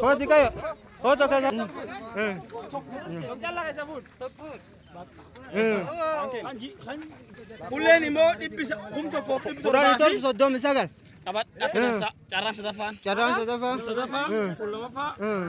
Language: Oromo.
Kooti kayo. Kooti kayo. Kulleen immoo dhibbisa kum tokko kum Kudhan torbaa torba fi soddomi sagal. qabadha keessa carraa sadaffaan. Carraan sadaffaa. Sadaffaa, kudha lamaffaa, Hmm.